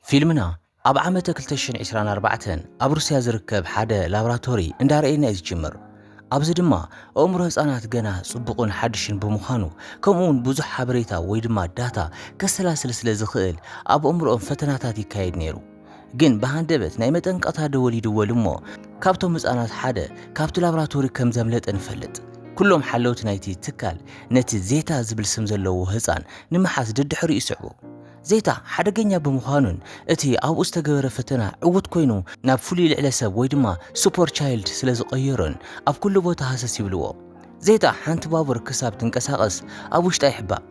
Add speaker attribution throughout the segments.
Speaker 1: ፊልምና ኣብ ዓመተ ክልተ ሽሕን ዒስራን ኣርባዕተን ኣብ ሩስያ ዝርከብ ሓደ ላብራቶሪ እንዳርኣየና'ዩ ዝጅምር። ኣብዚ ድማ ኣእምሮ ህጻናት ገና ጽቡቕን ሓድሽን ብምዃኑ ከምኡ'ውን ብዙሕ ሓበሬታ ወይ ድማ ዳታ ከሰላስል ስለ ዝኽእል ኣብ ኣእምሮኦም ፈተናታት ይካየድ ነይሩ። ግን ብሃንደበት ናይ መጠንቀቕታ ደወል ይድወል'ሞ ካብቶም ህጻናት ሓደ ካብቲ ላብራቶሪ ከም ዘምለጠ ንፈልጥ። ኩሎም ሓለውቲ ናይቲ ትካል ነቲ ዜታ ዝብል ስም ዘለዎ ህጻን ንምሓዝ ደድሕሪኡ ይስዕቡ። ዜታ ሓደገኛ ብምዃኑን እቲ ኣብኡ ዝተገበረ ፈተና ዕዉት ኮይኑ ናብ ፍሉይ ልዕለ ሰብ ወይ ድማ ሱፐር ቻይልድ ስለ ዝቐየሮን ኣብ ኩሉ ቦታ ሃሰስ ይብልዎ። ዜታ ሓንቲ ባቡር ክሳብ ትንቀሳቐስ ኣብ ውሽጣ ይሕባእ።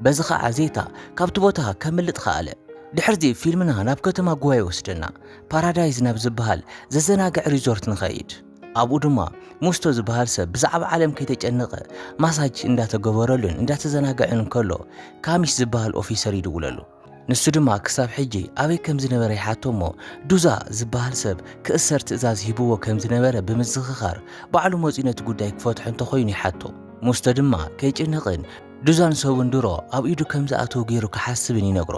Speaker 1: በዚ ኸኣ ዜታ ካብቲ ቦታ ከምልጥ ኸኣለ። ድሕርዚ ፊልምና ናብ ከተማ ጉዋ ይወስደና። ፓራዳይዝ ናብ ዝበሃል ዘዘናግዕ ሪዞርት ንኸይድ። ኣብኡ ድማ ሙስቶ ዝበሃል ሰብ ብዛዕባ ዓለም ከይተጨነቐ ማሳጅ እንዳተገበረሉን እንዳተዘናገዐን ከሎ ካሚሽ ዝበሃል ኦፊሰር ይድውለሉ። ንሱ ድማ ክሳብ ሕጂ ኣበይ ከም ዝነበረ ይሓቶ እሞ ዱዛ ዝበሃል ሰብ ክእሰር ትእዛዝ ሂብዎ ከም ዝነበረ ብምዝኽኻር ባዕሉ መጺኡ ነቲ ጉዳይ ክፈትሖ እንተኾይኑ ይሓቶ። ሙስቶ ድማ ከይጭነቕን ዱዛን ሰቡን ድሮ ኣብ ኢዱ ከም ዝኣተዉ ገይሩ ክሓስብን ይነግሮ።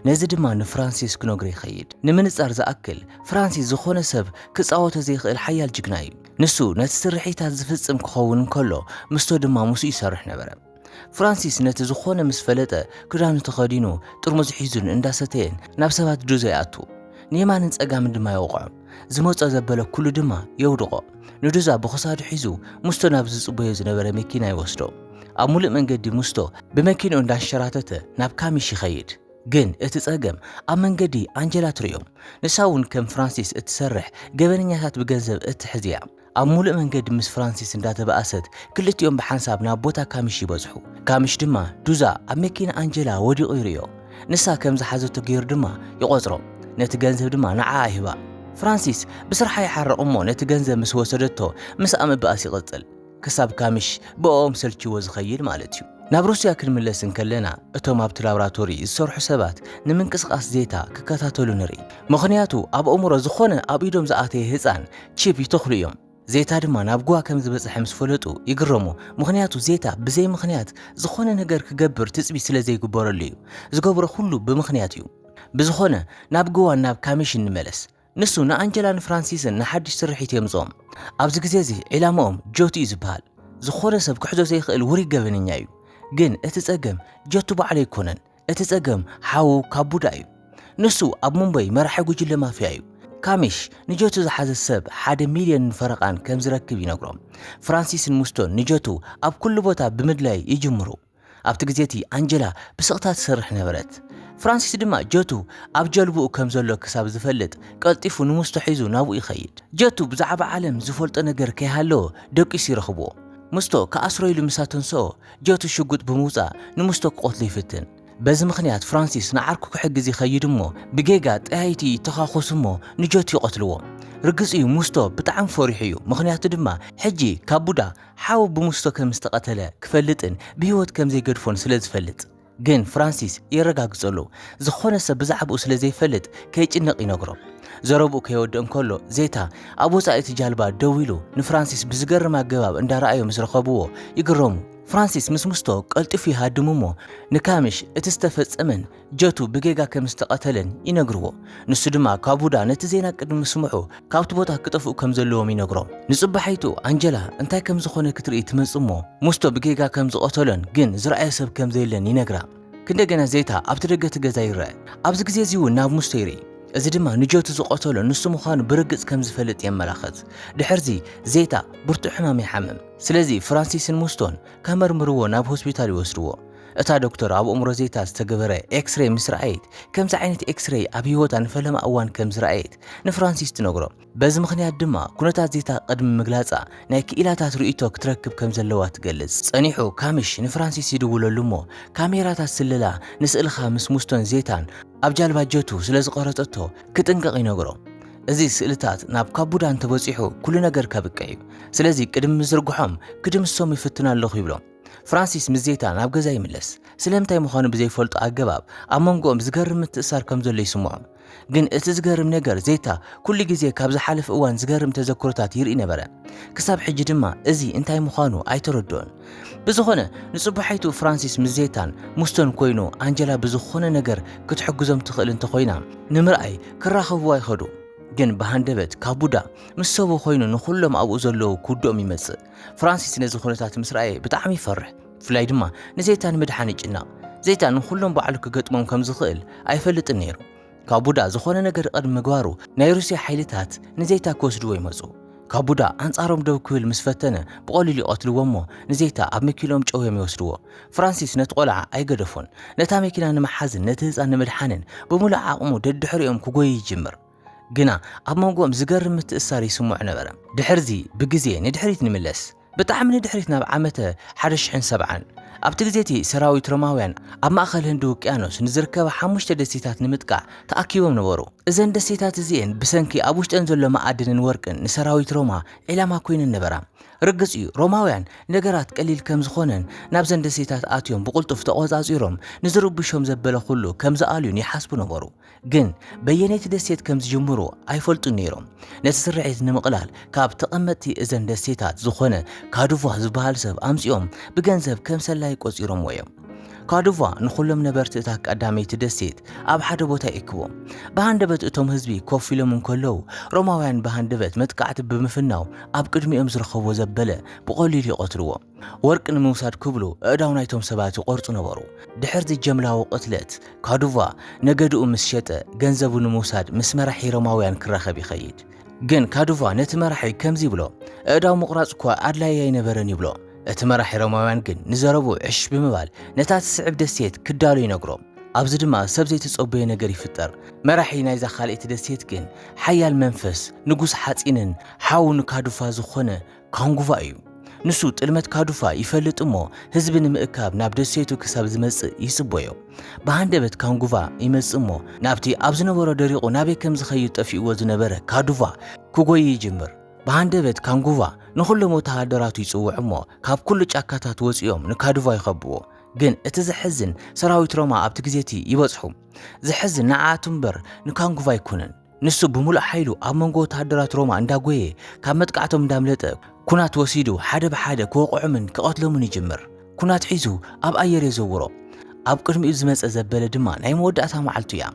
Speaker 1: ነዚ ድማ ንፍራንሲስ ክነግሮ ይኸይድ። ንምንጻር ዝኣክል፣ ፍራንሲስ ዝኾነ ሰብ ክጻወቶ ዘይክእል ሓያል ጅግና እዩ። ንሱ ነቲ ስርሒታት ዝፍጽም ክኸውን እንከሎ፣ ምስቶ ድማ ምስኡ ይሰርሕ ነበረ። ፍራንሲስ ነቲ ዝኾነ ምስ ፈለጠ፣ ክዳኑ ተኸዲኑ፣ ጥርሙዝ ሒዙን እንዳሰተየን ናብ ሰባት ዱዘ ይኣቱ። ንየማንን ጸጋምን ድማ ይወቕዖም። ዝመጾ ዘበለ ኩሉ ድማ የውድቖ። ንዱዛ ብኽሳዱ ሒዙ ምስቶ ናብ ዝጽበዮ ዝነበረ መኪና ይወስዶ። ኣብ ሙሉእ መንገዲ ምስቶ ብመኪንኡ እንዳንሸራተተ ናብ ካሚሽ ይኸይድ። ግን እቲ ጸገም ኣብ መንገዲ ኣንጀላ ትርእዮም። ንሳ እውን ከም ፍራንሲስ እትሰርሕ ገበነኛታት ብገንዘብ እትሕዝ እያ። ኣብ ምሉእ መንገዲ ምስ ፍራንሲስ እንዳተባእሰት፣ ክልቲኦም ብሓንሳብ ናብ ቦታ ካሚሽ ይበጽሑ። ካሚሽ ድማ ዱዛ ኣብ መኪና ኣንጀላ ወዲቑ ይርእዮ። ንሳ ከም ዝሓዘቶ ገይሩ ድማ ይቖጽሮ። ነቲ ገንዘብ ድማ ንዓኣ ይህባ። ፍራንሲስ ብስርሓ ይሓርቕ እሞ ነቲ ገንዘብ ምስ ወሰደቶ ምስኣ ምባእስ ይቕጽል። ክሳብ ካሚሽ ብእኦም ሰልችይዎ ዝኸይድ ማለት'ዩ። ናብ ሩስያ ክንምለስ እንከለና እቶም ኣብቲ ላብራቶሪ ዝሰርሑ ሰባት ንምንቅስቓስ ዜታ ክከታተሉ ንርኢ። ምኽንያቱ ኣብ ኣእምሮ ዝኾነ ኣብ ኢዶም ዝኣተየ ህጻን ቺፕ ይተኽሉ እዮም። ዜታ ድማ ናብ ጉዋ ከም ዝበጽሐ ምስ ፈለጡ ይግረሙ፣ ምኽንያቱ ዜታ ብዘይ ምኽንያት ዝኾነ ነገር ክገብር ትጽቢት ስለ ዘይግበረሉ እዩ። ዝገብሮ ኩሉ ብምኽንያት እዩ። ብዝኾነ ናብ ጉዋን ናብ ካሚሽን ንመለስ። ንሱ ንኣንጀላን ፍራንሲስን ንሓድሽ ስርሒት የምጽኦም። ኣብዚ ግዜ እዚ ዒላማኦም ጆቲ እዩ ዝበሃል። ዝኾነ ሰብ ክሕዞ ዘይኽእል ውሩይ ገበነኛ እዩ። ግን እቲ ጸገም ጆቲ ባዕሉ ኣይኮነን። እቲ ጸገም ሓዉ ካብ ቡዳ እዩ ንሱ ኣብ ሙምበይ መራሒ ጉጅለ ማፍያ እዩ ካሚሽ ንጀቱ ዝሓዘ ሰብ ሓደ ሚልዮንን ፈረቓን ከም ዝረክብ ይነግሮም ፍራንሲስን ሙስቶን ንጀቱ ኣብ ኩሉ ቦታ ብምድላይ ይጅምሩ ኣብቲ ግዜ እቲ ኣንጀላ ብስቕታ ትሰርሕ ነበረት ፍራንሲስ ድማ ጀቱ ኣብ ጀልብኡ ከም ዘሎ ክሳብ ዝፈልጥ ቀልጢፉ ንሙስቶ ሒዙ ናብኡ ይኸይድ ጀቱ ብዛዕባ ዓለም ዝፈልጦ ነገር ከይሃለወ ደቂሱ ይረኽብዎ ሙስቶ ክኣስሮ ኢሉ ምስ ኣተንስኦ ጆቲ ሽጉጥ ብምውጻእ ንሙስቶ ክቐትሎ ይፍትን። በዚ ምኽንያት ፍራንሲስ ንዓርኩ ክሕግዝ ይኸይድ እሞ ብጌጋ ጠያይቲ ይተኻኾሱ እሞ ንጆቲ ይቐትልዎ። ርግጽ እዩ ሙስቶ ብጣዕሚ ፈሪሑ እዩ ምኽንያቱ ድማ ሕጂ ካቡዳ ሓው ብሙስቶ ከምዝተቐተለ ክፈልጥን ብህይወት ከምዘይገድፎን ስለዝፈልጥ። ግን ፍራንሲስ የረጋግጸሉ። ዝኾነ ሰብ ብዛዕባኡ ስለ ዘይፈልጥ ከይጭነቕ ይነግሮ። ዘረብኡ ከይወድእ እንከሎ ዜታ ኣብ ወጻኢ እቲ ጃልባ ደው ኢሉ ንፍራንሲስ ብዝገርም ኣገባብ እንዳረኣዮ ምስ ረኸብዎ ይግረሙ። ፍራንሲስ ምስ ምስቶ ቀልጢፉ ይሃድም እሞ ንካሚሽ እቲ ዝተፈጸመን ጀቱ ብጌጋ ከም ዝተቐተለን ይነግርዎ። ንሱ ድማ ካቡዳ ነቲ ዜና ቅድሚ ምስምዑ ካብቲ ቦታ ክጠፍኡ ከም ዘለዎም ይነግሮም። ንጽባሒቱ ኣንጀላ እንታይ ከም ዝኾነ ክትርኢ ትመጽእ እሞ ሙስቶ ብጌጋ ከም ዝቐተሎን ግን ዝረኣዮ ሰብ ከም ዘየለን ይነግራ። ክንደገና ዜታ ኣብቲ ደገ እቲ ገዛ ይረኣ። ኣብዚ ግዜ እዚ እውን ናብ ሙስቶ ይርኢ። እዚ ድማ ንጆቲ ዝቐተሎ ንሱ ምዃኑ ብርግጽ ከም ዝፈልጥ የመላኽት። ድሕርዚ ዜታ ብርቱዕ ሕማም ይሓምም። ስለዚ ፍራንሲስን ሙስቶን ከመርምርዎ ናብ ሆስፒታል ይወስድዎ። እታ ዶክተር ኣብ ኣእምሮ ዜታ ዝተገበረ ኤክስሬይ ምስ ረኣየት፣ ከምዚ ዓይነት ኤክስሬይ ኣብ ህይወታ ንፈለማ እዋን ከም ዝረኣየት ንፍራንሲስ ትነግሮ። በዚ ምኽንያት ድማ ኩነታት ዜታ ቅድሚ ምግላጻ ናይ ክኢላታት ርእይቶ ክትረክብ ከም ዘለዋ ትገልጽ። ጸኒሑ ካሚሽ ንፍራንሲስ ይድውለሉ እሞ ካሜራታት ስለላ ንስእልኻ ምስ ሙስቶን ዜታን ኣብ ጃልባ ጀቱ ስለ ዝቐረጸቶ ክጥንቀቕ ይነግሮ። እዚ ስእልታት ናብ ካቡዳ እንተበጺሑ ኩሉ ነገር ከብቅዕ እዩ። ስለዚ ቅድሚ ምዝርግሖም ክድምስሶም ይፍትን ኣለኹ ይብሎ። ፍራንሲስ ምስ ዜታ ናብ ገዛ ይምለስ። ስለምንታይ ምዃኑ ብዘይፈልጦ ኣገባብ ኣብ መንጎኦም ዝገርም ምትእስሳር ከም ዘሎ ይስምዖም። ግን እቲ ዝገርም ነገር ዜታ ኩሉ ግዜ ካብ ዝሓለፈ እዋን ዝገርም ተዘክሮታት ይርኢ ነበረ። ክሳብ ሕጂ ድማ እዚ እንታይ ምዃኑ ኣይተረድኦን። ብዝኾነ ንጽባሒቱ ፍራንሲስ ምስ ዜታን ሙስቶን ኮይኑ ኣንጀላ ብዝኾነ ነገር ክትሕግዞም ትኽእል እንተኾይና ንምርኣይ ክራኸብዋ ይኸዱ። ግን ብሃንደበት ካቡዳ ምስ ሰቡ ኮይኑ ንኹሎም ኣብኡ ዘለዉ ክውድኦም ይመጽእ። ፍራንሲስ ነዚ ኩነታት ምስ ረኣየ ብጣዕሚ ይፈርሕ፣ ብፍላይ ድማ ንዘይታ ንምድሓን ይጭነቕ። ዘይታ ንኹሎም ባዕሉ ክገጥሞም ከም ዝኽእል ኣይፈልጥን ነይሩ። ካብ ቡዳ ዝኾነ ነገር ቅድሚ ምግባሩ ናይ ሩስያ ሓይልታት ንዘይታ ክወስድዎ ይመጹ። ካብ ቡዳ ኣንጻሮም ደው ክብል ምስ ፈተነ ብቐሊሉ ይቐትልዎ እሞ ንዘይታ ኣብ መኪንኦም ጨውዮም ይወስድዎ። ፍራንሲስ ነቲ ቆልዓ ኣይገደፎን። ነታ መኪና ንምሓዝን ነቲ ህጻን ንምድሓንን ብምሉእ ዓቕሙ ደድሕሪኦም ክጎዪ ይጅምር። ግና ኣብ መንጎኦም ዝገርም ምትእስሳር ይስምዖ ነበረ። ድሕርዚ ብግዜ ንድሕሪት ንምለስ፣ ብጣዕሚ ንድሕሪት ናብ ዓመተ ሓደ ሽሕን ሰብዓን። ኣብቲ ግዜ እቲ ሰራዊት ሮማውያን ኣብ ማእከል ህንዲ ውቅያኖስ ንዝርከባ ሓሙሽተ ደሴታት ንምጥቃዕ ተኣኪቦም ነበሩ። እዘን ደሴታት እዚኤን ብሰንኪ ኣብ ውሽጠን ዘሎ መኣድንን ወርቅን ንሰራዊት ሮማ ዒላማ ኮይነን ነበራ። ርግጽ እዩ ሮማውያን ነገራት ቀሊል ከም ዝኾነን ናብዘን ደሴታት ኣትዮም ብቕልጡፍ ተቖጻጺሮም ንዝርብሾም ዘበለ ኩሉ ከም ዝኣልዩን ይሓስቡ ነበሩ። ግን በየነይቲ ደሴት ከም ዝጅምሩ ኣይፈልጡን ነይሮም። ነቲ ስርሒት ንምቕላል ካብ ተቐመጥቲ እዘን ደሴታት ዝኾነ ካዱቫ ዝበሃል ሰብ ኣምጺኦም ብገንዘብ ከም ሰላይ ቆጺሮምዎ እዮም። ካዱቫ ንኹሎም ነበርቲ እታ ቀዳመይቲ ደሴት ኣብ ሓደ ቦታ ይእክቦም። ብሃንደበት እቶም ህዝቢ ኮፍ ኢሎም እንከለዉ ሮማውያን ብሃንደበት መጥቃዕቲ ብምፍናው ኣብ ቅድሚኦም ዝረኸብዎ ዘበለ ብቐሊሉ ይቐትልዎ። ወርቂ ንምውሳድ ክብሉ ኣእዳው ናይቶም ሰባት ይቖርጹ ነበሩ። ድሕርዚ ጀምላዊ ቅትለት፣ ካዱቫ ነገድኡ ምስ ሸጠ፣ ገንዘቡ ንምውሳድ ምስ መራሒ ሮማውያን ክራኸብ ይኸይድ። ግን ካዱቫ ነቲ መራሒ ከምዚ ይብሎ፣ ኣእዳው ምቑራጽ እኳ ኣድላዪ ኣይነበረን ይብሎ። እቲ መራሒ ሮማውያን ግን ንዘረብኡ ዕሽ ብምባል ነታ እትስዕብ ደሴት ክዳሎ ይነግሮ። ኣብዚ ድማ ሰብ ዘይተጸበዮ ነገር ይፍጠር። መራሒ ናይዛ ካልኣይቲ ደሴት ግን ሓያል መንፈስ ንጉስ ሓጺንን ሓው ንካዱቫ ዝኾነ ካንጉቫ እዩ። ንሱ ጥልመት ካዱፋ ይፈልጥ እሞ ህዝቢ ንምእካብ ናብ ደሴቱ ክሳብ ዝመጽእ ይጽቦዮ። ብሃንደበት ካንጉቫ ይመጽእ እሞ ናብቲ ኣብ ዝነበሮ ደሪቑ ናበይ ከም ዝኸይድ ጠፊኡዎ ዝነበረ ካዱቫ ክጎዪ ይጅምር። ብሃንደበት ካንጉቫ ንኹሎም ወተሃደራቱ ይጽውዕ እሞ ካብ ኩሉ ጫካታት ወጺኦም ንካዱቫ ይኸብዎ። ግን እቲ ዘሕዝን ሰራዊት ሮማ ኣብቲ ግዜቲ ይበጽሑ። ዘሕዝን ንዓኣቱ እምበር ንካንጉቫ ኣይኮነን። ንሱ ብምሉእ ሓይሉ ኣብ መንጎ ወተሃደራት ሮማ እንዳጎየ ካብ መጥቃዕቶም እንዳምለጠ ኩናት ወሲዱ ሓደ ብሓደ ክወቕዖምን ክቐትሎምን ይጅምር። ኩናት ሒዙ ኣብ ኣየር የዘውሮ። ኣብ ቅድሚኡ ዝመጸ ዘበለ ድማ ናይ መወዳእታ መዓልቱ እያ።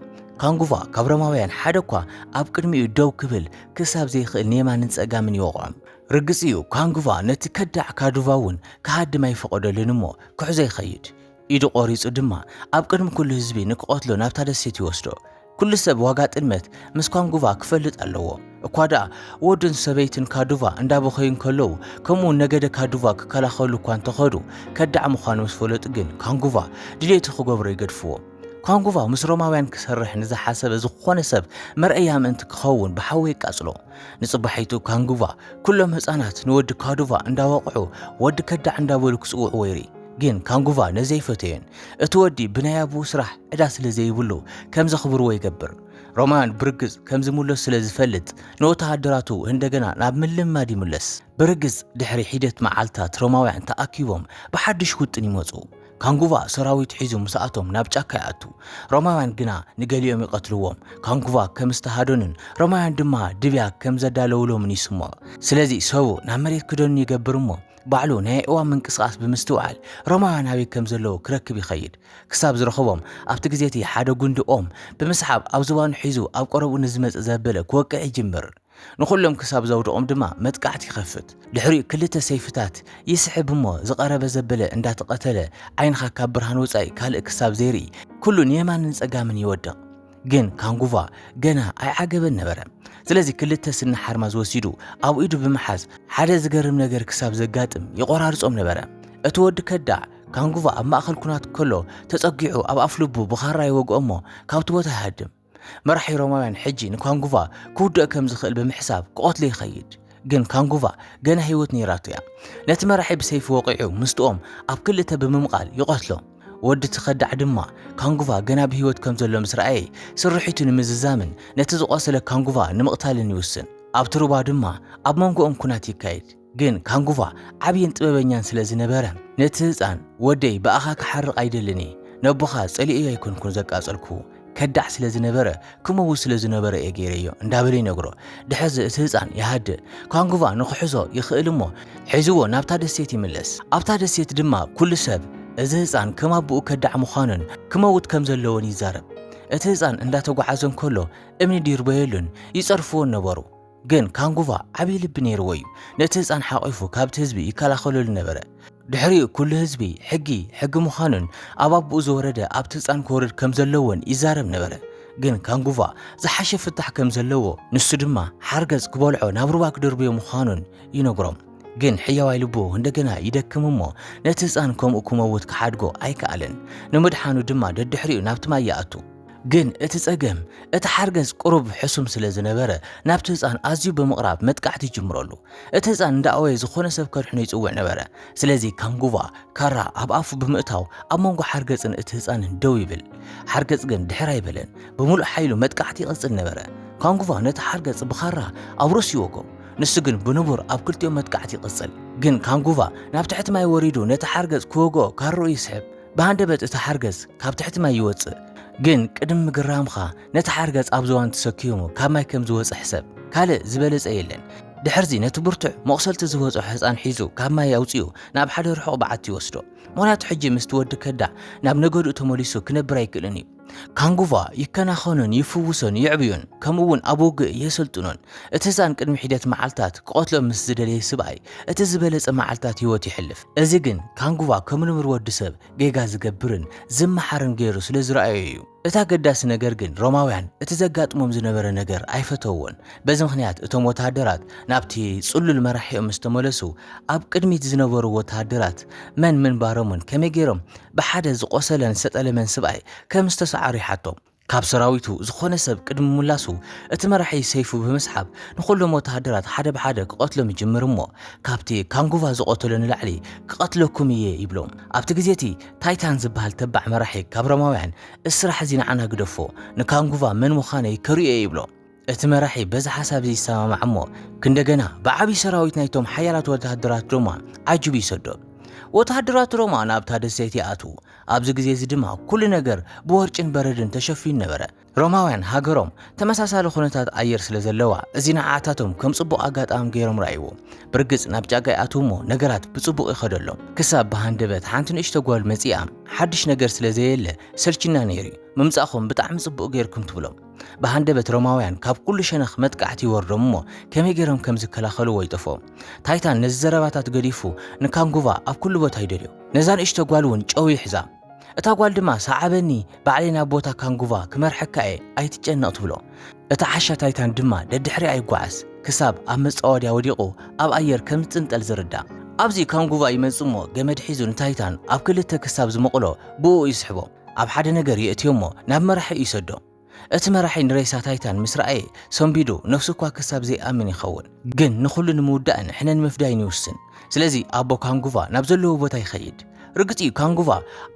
Speaker 1: ካንጉቫ ካብ ሮማውያን ሓደ እኳ ኣብ ቅድሚኡ ደው ክብል ክሳብ ዘይክእል ንየማንን ጸጋምን ይወቕዖም። ርግጽ እዩ ካንጉቫ ነቲ ከዳዕ ካዱቫ እውን ክሃድም ኣይፈቐደሉን እሞ ክሕዞ ይኸይድ። ኢዱ ቆሪጹ ድማ ኣብ ቅድሚ ኩሉ ህዝቢ ንክቐትሎ ናብታ ደሴት ይወስዶ። ኩሉ ሰብ ዋጋ ጥልመት ምስ ኳንጉቫ ክፈልጥ ኣለዎ። እኳ ደኣ ወዱን ሰበይትን ካዱቫ እንዳበኸዩ እንከለዉ ከምኡውን ነገደ ካዱቫ ክከላኸሉ እኳ እንተኸዱ ከዳዕ ምዃኑ ምስ ፈለጡ ግን ኳንጉቫ ድሌቱ ክገብሮ ይገድፍዎ። ኳንጉቫ ምስ ሮማውያን ክሰርሕ ንዝሓሰበ ዝኾነ ሰብ መርኣያ ምእንቲ ክኸውን ብሓዊ የቃጽሎ። ንጽባሒቱ ካንጉቫ ኩሎም ህጻናት ንወዲ ካዱቫ እንዳወቕዑ ወዲ ከዳዕ እንዳበሉ ክጽውዕዎ ይርኢ። ግን ካንጉቫ ነዚ ኣይፈተዮን። እቲ ወዲ ብናይ ኣቡኡ ስራሕ ዕዳ ስለ ዘይብሉ ከም ዘኽብርዎ ይገብር። ሮማን ብርግጽ ከም ዝምለሱ ስለ ዝፈልጥ ንወተሃደራቱ እንደገና ናብ ምልምማድ ይምለስ። ብርግጽ ድሕሪ ሒደት መዓልታት ሮማውያን ተኣኪቦም ብሓድሽ ውጥን ይመጹ። ካንጉቫ ሰራዊት ሒዙ ምስ ኣቶም ናብ ጫካ ይኣቱ። ሮማውያን ግና ንገሊኦም ይቐትልዎም። ካንጉቫ ከም ዝተሃደኑን ሮማውያን ድማ ድብያ ከም ዘዳለውሎምን ይስምዖ። ስለዚ ሰቡ ናብ መሬት ክደኑ ይገብር እሞ ባዕሉ ናይ ኣእዋም ምንቅስቓስ ብምስትውዓል ሮማውያን ኣበይ ከም ዘለዉ ክረክብ ይኸይድ። ክሳብ ዝረኸቦም ኣብቲ ግዜ እቲ ሓደ ጉንዲ ኦም ብምስሓብ ኣብ ዝባኑ ሒዙ ኣብ ቀረብኡ ንዝመጽእ ዘበለ ክወቅዕ ይጅምር። ንዅሎም ክሳብ ዘውድቖም ድማ መጥቃዕቲ ይኸፍት። ድሕሪኡ ክልተ ሰይፍታት ይስሕብ እሞ ዝቐረበ ዘበለ እንዳተቐተለ ዓይንኻ ካብ ብርሃን ወጻኢ ካልእ ክሳብ ዘይርኢ ኩሉ ንየማንን ጸጋምን ይወድቕ። ግን ካንጉቫ ገና ኣይዓገበን ነበረ። ስለዚ ክልተ ስኒ ሓርማዝ ወሲዱ ኣብ ኢዱ ብምሓዝ ሓደ ዝገርም ነገር ክሳብ ዘጋጥም ይቖራርጾም ነበረ። እቲ ወዲ ከዳዕ ካንጉቫ ኣብ ማእከል ኵናት ከሎ ተጸጊዑ ኣብ ኣፍልቡ ብኻራ ይወግኦ እሞ ካብቲ ቦታ ይሃድም። መራሒ ሮማውያን ሕጂ ንካንጉቫ ክውድኦ ከም ዝኽእል ብምሕሳብ ክቐትሎ ይኸይድ። ግን ካንጉቫ ገና ህይወት ነይራቶ እያ። ነቲ መራሒ ብሰይፊ ወቒዑ ምስጥኦም ኣብ ክልተ ብምምቓል ይቐትሎ። ወዲ እቲ ከዳዕ ድማ ካንጉቫ ገና ብህይወት ከም ዘሎ ምስ ረኣየ ስርሒቱ ንምዝዛምን ነቲ ዝቖሰለ ካንጉቫ ንምቕታልን ይውስን። ኣብቲ ሩባ ድማ ኣብ መንጎኦም ኵናት ይካየድ። ግን ካንጉቫ ዓብይን ጥበበኛን ስለ ዝነበረ፣ ነቲ ህጻን፣ ወደይ ብኣኻ ክሓርቕ ኣይደልን እየ፣ ነቦኻ ጸሊኤዮ ኣይኮንኩን ዘቃጸልኩ፣ ከዳዕ ስለ ዝነበረ፣ ክመውት ስለ ዝነበሮ እየ ገይረዮ እንዳበለ ይነግሮ። ድሕርዚ እቲ ህጻን ይሃድእ። ካንጉቫ ንኽሕዞ ይኽእል እሞ ሒዝዎ ናብታ ደሴት ይምለስ። ኣብታ ደሴት ድማ ኩሉ ሰብ እዚ ህጻን ከም ኣቦኡ ከዳዕ ምዃኑን ክመውት ከም ዘለዎን ይዛረብ። እቲ ህጻን እንዳተጓዓዘ እንከሎ እምኒ ዲርበየሉን ይጸርፍዎን ነበሩ። ግን ካንጉቫ ዓብዪ ልቢ ነይርዎ እዩ። ነቲ ህጻን ሓቚፉ ካብቲ ህዝቢ ይከላኸለሉ ነበረ። ድሕሪኡ ኩሉ ህዝቢ ሕጊ ሕጊ ምዃኑን ኣብ ኣቦኡ ዝወረደ ኣብቲ ህጻን ክወርድ ከም ዘለዎን ይዛረብ ነበረ። ግን ካንጉቫ ዝሓሸ ፍታሕ ከም ዘለዎ ንሱ ድማ ሓርገጽ ክበልዖ ናብ ሩባ ክድርብዮ ምዃኑን ይነግሮም። ግን ሕያዋይ ልቡ እንደገና ይደክም እሞ ነቲ ህጻን ከምኡ ክመውት ክሓድጎ ኣይከኣለን። ንምድሓኑ ድማ ደድሕሪኡ ናብቲ ማይ ይኣቱ። ግን እቲ ጸገም እቲ ሓርገጽ ቁሩብ ሕሱም ስለ ዝነበረ ናብቲ ህጻን ኣዝዩ ብምቕራብ መጥቃዕቲ ይጅምረሉ። እቲ ህጻን እንዳኣወየ ዝኾነ ሰብ ከድሕኖ ይጽውዕ ነበረ። ስለዚ ካንጉቫ፣ ካራ፣ ኣብ ኣፉ ብምእታው ኣብ መንጎ ሓርገጽን እቲ ህጻንን ደው ይብል። ሓርገጽ ግን ድሕር ኣይበለን። ብምሉእ ሓይሉ መጥቃዕቲ ይቕጽል ነበረ። ካንጉቫ ነቲ ሓርገጽ ብኻራ ኣብ ርእሱ ይወግኦ። ንሱ ግን ብንቡር ኣብ ክልቲኦም መጥቃዕቲ ይቕጽል። ግን ካንጉቫ ናብ ትሕቲ ማይ ወሪዱ ነቲ ሓርገጽ ክወግኦ ካርኡ ይስሕብ። ብሃንደበት እቲ ሓርገጽ ካብ ትሕቲ ማይ ይወጽእ። ግን ቅድሚ ምግራምካ ነቲ ሓርገጽ ኣብ ዝዋን ተሰኪሙ ካብ ማይ ከም ዝወጸ ሕሰብ። ካልእ ዝበለጸ የለን። ድሕርዚ ነቲ ብርቱዕ መቑሰልቲ ዝበጽሖ ህጻን ሒዙ ካብ ማይ ኣውጺኡ ናብ ሓደ ርሑቕ በዓቲ ይወስዶ። ምኽንያቱ ሕጂ ምስቲ ወዲ ከዳዕ ናብ ነገድኡ ተመሊሱ ክነብር ኣይክእልን እዩ። ካንጉቫ ይከናኸኑን ይፍውሶን ይዕብዩን ከምኡ እውን ኣብ ውግእ የሰልጥኖን። እቲ ህጻን ቅድሚ ሒደት መዓልታት ክቐትሎ ምስ ዝደለየ ስብኣይ እቲ ዝበለጸ መዓልታት ህይወት ይሕልፍ። እዚ ግን ካንጉቫ ከም ንቡር ወዲ ሰብ ጌጋ ዝገብርን ዝመሓርን ገይሩ ስለ ዝረኣዮ እዩ። እቲ ኣገዳሲ ነገር ግን ሮማውያን እቲ ዘጋጥሞም ዝነበረ ነገር ኣይፈተውዎን። በዚ ምኽንያት እቶም ወተሃደራት ናብቲ ጽሉል መራሒኦም ምስ ተመለሱ ኣብ ቅድሚት ዝነበሩ ወተሃደራት መን ምንባሮምን ከመይ ገይሮም ብሓደ ዝቖሰለን ዝተጠለመን ስብኣይ ከም ዝተሰዓሩ ይሓቶ። ካብ ሰራዊቱ ዝኾነ ሰብ ቅድሚ ምምላሱ እቲ መራሒ ሰይፉ ብምስሓብ ንኹሎም ወተሃደራት ሓደ ብሓደ ክቐትሎም ይጅምር እሞ ካብቲ ካንጉቫ ዝቐተሎ ንላዕሊ ክቐትለኩም እየ ይብሎም። ኣብቲ ግዜ እቲ ታይታን ዝበሃል ተባዕ መራሒ ካብ ሮማውያን እዚ ስራሕ እዚ ንዓና ግደፎ ንካንጉቫ መን ምዃነይ ከርእዮ እየ ይብሎ። እቲ መራሒ በዚ ሓሳብ እዚ ይሰማማዕ እሞ ክንደገና ብዓብዪ ሰራዊት ናይቶም ሓያላት ወተሃደራት ሮማ ዓጅቡ ይሰዶ። ወተሃደራት ሮማ ናብታ ደሴት ይኣትዉ። ኣብዚ ግዜ እዚ ድማ ኩሉ ነገር ብወርጭን በረድን ተሸፊኑ ነበረ። ሮማውያን ሃገሮም ተመሳሳሊ ኩነታት ኣየር ስለ ዘለዋ እዚ ንዓኣታቶም ከም ጽቡቕ ኣጋጣሚ ገይሮም ረኣይዎ። ብርግጽ ናብ ጫካ ይኣትዉ እሞ ነገራት ብጽቡቕ ይኸደሎም። ክሳብ ብሃንደበት ሓንቲ ንእሽቶ ጓል መጺኣ ሓድሽ ነገር ስለ ዘየለ ሰልችና ነይሩ'ዩ። ምምጻእኩም ብጣዕሚ ጽቡቕ ገይርኩም ትብሎም። ብሃንደበት ሮማውያን ካብ ኩሉ ሸነኽ መጥቃዕቲ ይወርዶም እሞ ከመይ ገይሮም ከም ዝከላኸልዎ ይጠፍኦም። ታይታን ነዚ ዘረባታት ገዲፉ ንካንጉቫ ኣብ ኩሉ ቦታ ይደልዮ። ነዛ ንእሽቶ ጓል እውን ጨው ይሕዛ። እታ ጓል ድማ ሰዓበኒ ባዕለይ ናብ ቦታ ካንጉቫ ክመርሐካ እየ ኣይትጨነቕ ትብሎ። እቲ ዓሻ ታይታን ድማ ደድሕሪኣ ይጓዓዝ ክሳብ ኣብ መጻወድያ ወዲቑ ኣብ ኣየር ከም ዝጽንጠል ዝርዳእ። ኣብዚ ካንጉቫ ይመጽእ እሞ ገመድ ሒዙ ንታይታን ኣብ ክልተ ክሳብ ዝመቕሎ ብእኡ ይስሕቦ። ኣብ ሓደ ነገር የእትዮሞ ናብ መራሒኡ ይሰዶ። እቲ መራሒ ንሬሳ ታይታን ምስ ረኣየ ሰንቢዱ ነፍሱ እኳ ክሳብ ዘይኣምን ይኸውን ግን ንኹሉ ንምውዳእን ሕነ ንምፍዳይን ይውስን። ስለዚ ኣቦ ካንጉቫ ናብ ዘለዎ ቦታ ይኸይድ። ርግጽ እዩ ካንጉቫ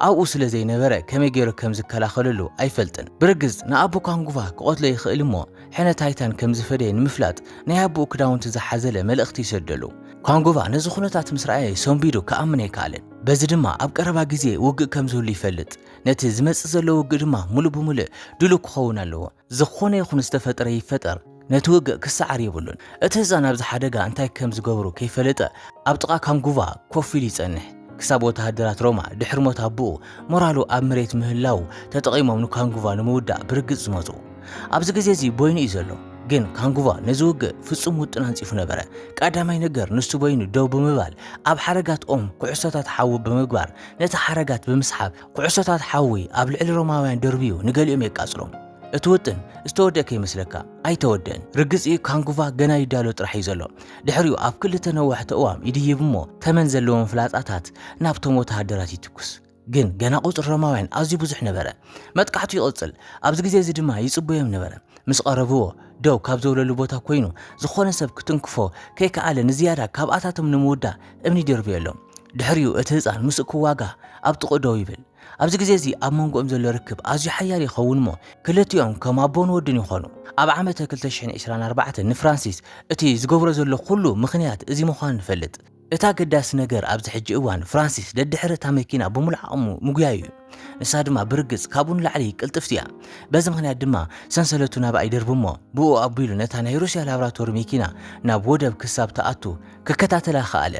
Speaker 1: ኣብኡ ስለ ዘይነበረ ከመይ ገይሩ ከም ዝከላኸለሉ ኣይፈልጥን። ብርግጽ ንኣቦ ካንጉቫ ክቐትሎ ይኽእል እሞ ሕነ ታይታን ከም ዝፈደየ ንምፍላጥ ናይ ኣቦኡ ክዳውንቲ ዝሓዘለ መልእኽቲ ይሰደሉ። ካንጉቫ ነዚ ኩነታት ምስ ረኣየ ሰንቢዱ ክኣምን ኣይከኣለን። በዚ ድማ ኣብ ቀረባ ግዜ ውግእ ከም ዝህሉ ይፈልጥ፣ ነቲ ዝመጽእ ዘሎ ውግእ ድማ ምሉእ ብምሉእ ድሉው ክኸውን ኣለዎ። ዝዀነ ይኹን ዝተፈጥረ ይፈጠር፣ ነቲ ውግእ ክሰዓር የብሉን። እቲ ህጻን ኣብዚ ሓደጋ እንታይ ከም ዝገብሩ ከይፈለጠ ኣብ ጥቓ ካንጉቫ ኮፍ ኢሉ ይጸንሕ፣ ክሳብ ወተሃደራት ሮማ ድሕሪ ሞት ኣቦኡ ሞራሉ ኣብ መሬት ምህላዉ ተጠቒሞም ንካንጉቫ ንምውዳእ ብርግጽ ዝመጹ። ኣብዚ ግዜ እዚ ቦይኑ እዩ ዘሎ። ግን ካንጉቫ ነዚ ውግእ ፍጹም ውጥን ኣንጺፉ ነበረ። ቀዳማይ ነገር ንሱ ቦይኑ ደው ብምባል ኣብ ሓረጋት ኦም ኩዕሶታት ሓዊ ብምግባር ነቲ ሓረጋት ብምስሓብ ኩዕሶታት ሓዊ ኣብ ልዕሊ ሮማውያን ደርብዩ ንገሊኦም የቃጽሎም። እቲ ውጥን ዝተወድአ ከይመስለካ፣ ኣይተወድእን። ርግጽ እዩ ካንጉቫ ገና ይዳሎ ጥራሕ እዩ ዘሎ። ድሕሪኡ ኣብ ክልተ ነዋሕቲ ኣእዋም ይድይብ እሞ ተመን ዘለዎም ፍላጻታት ናብቶም ወተሃደራት ይትኩስ። ግን ገና ቁጽሪ ሮማውያን ኣዝዩ ብዙሕ ነበረ። መጥቃዕቱ ይቕጽል፣ ኣብዚ ግዜ እዚ ድማ ይጽበዮም ነበረ። ምስ ቐረብዎ፣ ደው ካብ ዘብለሉ ቦታ ኰይኑ ዝዀነ ሰብ ክትንክፎ ከይከኣለ ንዝያዳ ካብኣታቶም ንምውዳእ እምኒ ይድርብየሎም። ድሕሪኡ እቲ ህጻን ምስኡ ክዋጋእ ኣብ ጥቕኡ ደው ይብል። ኣብዚ ግዜ እዚ ኣብ መንጎኦም ዘሎ ርክብ ኣዝዩ ሓያል ይኸውን እሞ ክልቲኦም ከም ኣቦን ወድን ይዀኑ። ኣብ ዓመተ ክልተ ሽሕን ዕስራን ኣርባዕተን ንፍራንሲስ እቲ ዝገብሮ ዘሎ ዅሉ ምኽንያት እዚ ምዃኑ ንፈልጥ። እቲ ኣገዳሲ ነገር ኣብዚ ሕጂ እዋን ፍራንሲስ ደድሕሪ እታ መኪና ብምሉእ ዓቕሙ ምጉያዩ እዩ። ንሳ ድማ ብርግጽ ካብኡ ንላዕሊ ቅልጥፍቲ እያ። በዚ ምኽንያት ድማ ሰንሰለቱ ናብኣ ይድርቢ እሞ ብእኡ ኣቢሉ ነታ ናይ ሩስያ ላብራቶሪ መኪና ናብ ወደብ ክሳብ ትኣቱ ክከታተላ ከኣለ።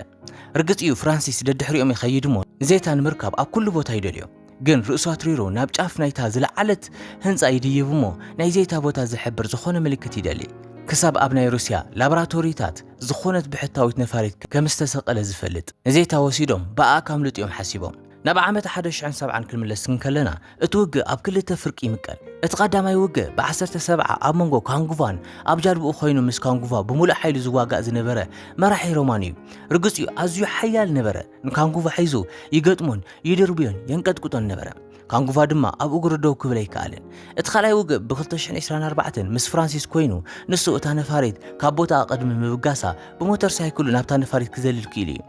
Speaker 1: ርግጽ እዩ ፍራንሲስ ደድሕሪኦም ይኸይድ እሞ ንዘይታ ንምርካብ ኣብ ኩሉ ቦታ ይደልዮ። ግን ርእሱ ኣትሪሩ ናብ ጫፍ ናይታ ዝለዓለት ህንጻ ይድይብ እሞ ናይ ዘይታ ቦታ ዝሕብር ዝኾነ ምልክት ይደሊ ክሳብ ኣብ ናይ ሩስያ ላብራቶሪታት ዝኾነት ብሕታዊት ነፋሪት ከም ዝተሰቀለ ዝፈልጥ ንዘይታ ወሲዶም ብኣኣ ካምልጡ እዮም ሓሲቦም። ናብ ዓመት ሓደ ሽሕን ሰብዓን ክንምለስ እንከለና እቲ ውግእ ኣብ ክልተ ፍርቂ ይምቀል። እቲ ቀዳማይ ውግእ ብዓሰርተ ሰብዓ ኣብ መንጎ ካንጉቫን ኣብ ጃልብኡ ኮይኑ ምስ ካንጉቫ ብምሉእ ሓይሉ ዝዋጋእ ዝነበረ መራሒ ሮማን እዩ። ርግጽ እዩ ኣዝዩ ሓያል ነበረ። ንካንጉቫ ሒዙ ይገጥሞን ይድርብዮን የንቀጥቅጦን ነበረ። ካንጉቫ ድማ ኣብ እግሩ ደው ክብል ኣይከኣለን። እቲ ካልኣይ ውግእ ብ2024 ምስ ፍራንሲስ ኮይኑ ንሱ እታ ነፋሪት ካብ ቦታኣ ቅድሚ ምብጋሳ ብሞተር ሳይክሉ ናብታ ነፋሪት ክዘልል ክኢሉ እዩ።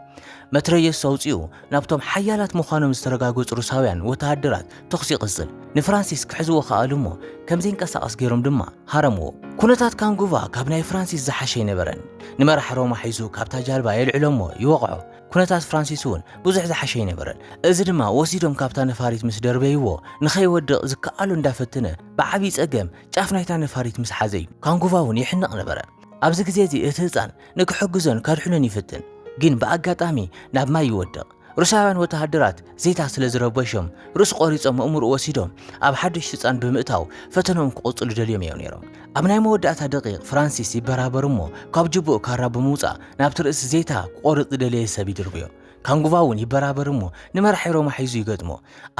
Speaker 1: መትረየሱ ኣውፂኡ ናብቶም ሓያላት ምዃኖም ዝተረጋገፁ ሩሳውያን ወተሃደራት ተኹሲ ይቕፅል። ንፍራንሲስ ክሕዝዎ ከኣሉ እሞ ከም ዘይንቀሳቐስ ገይሮም ድማ ሃረምዎ። ኩነታት ካንጉቫ ካብ ናይ ፍራንሲስ ዝሓሸ ኣይነበረን። ንመራሕ ሮማ ሒዙ ካብታ ጃልባ የልዕሎ እሞ ይወቕዖ። ኩነታት ፍራንሲስ እውን ብዙሕ ዝሓሸ ኣይነበረን። እዚ ድማ ወሲዶም ካብታ ነፋሪት ምስ ደርበይዎ ንኸይወድቕ ዝከኣሎ እንዳፈተነ ብዓብዪ ጸገም ጫፍ ናይታ ነፋሪት ምስ ሓዘ እዩ። ካንጉቫ እውን ይሕነቕ ነበረ። ኣብዚ ግዜ እዚ እቲ ህጻን ንክሕግዞን ከድሕኖን ይፍትን፣ ግን ብኣጋጣሚ ናብ ማይ ይወድቕ። ሩስያውያን ወተሃደራት ዜታ ስለ ዝረበሾም ርእሱ ቆሪጾም ኣእምርኡ ወሲዶም ኣብ ሓድሽ ህጻን ብምእታው ፈተነኦም ክቕጽሉ ደልዮም እዮም ነይሮም። ኣብ ናይ መወዳእታ ደቒቕ ፍራንሲስ ይበራበር እሞ ካብ ጅብኡ ካራ ብምውጻእ ናብቲ ርእሲ ዜታ ክቆርጽ ዝደለየ ሰብ ይድርብዮ። ካንጉቫ እውን ይበራበር እሞ ንመራሒ ሮማ ሒዙ ይገጥሞ።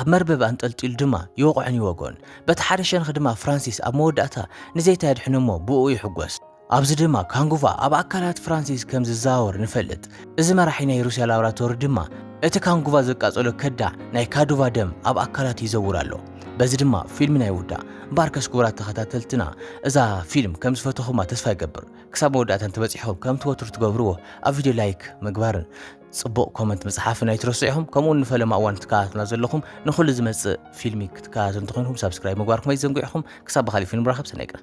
Speaker 1: ኣብ መርበብ ኣንጠልጢሉ ድማ ይወቕዖን ይወግኦን። በቲ ሓደ ሸንኽ ድማ ፍራንሲስ ኣብ መወዳእታ ንዜታ የድሕኖ እሞ ብእኡ ይሕጎስ። ኣብዚ ድማ ካንጉቫ ኣብ ኣካላት ፍራንሲስ ከም ዝዘዋወር ንፈልጥ። እዚ መራሒ ናይ ሩስያ ላብራቶሪ ድማ እቲ ካንጉቫ ዘቃጸሎ ከዳዕ ናይ ካዱቫ ደም ኣብ ኣካላቱ ይዘውር ኣሎ። በዚ ድማ ፊልምና ይውዳእ። እምበኣርከስ ክቡራት ተኸታተልትና እዛ ፊልም ከም ዝፈተኹማ ተስፋ ይገብር። ክሳብ መወዳእታ እንተበጺሕኩም ከምቲ ወትሩ ትገብርዎ ኣብ ቪድዮ ላይክ ምግባርን ጽቡቕ ኮመንት ምጽሓፍን ኣይትረስዑ ኢኹም ከምኡውን ንፈለማ እዋን ትከታተሉና ዘለኹም ንኹሉ ዝመጽእ ፊልሚ ክትከታተሉ እንተኾይንኩም ሳብስክራይብ ምግባርኩም ኣይትዘንግዑ ኢኹም ክሳብ ብካሊእ ፊልም ንራኸብ ሰናይ ቀን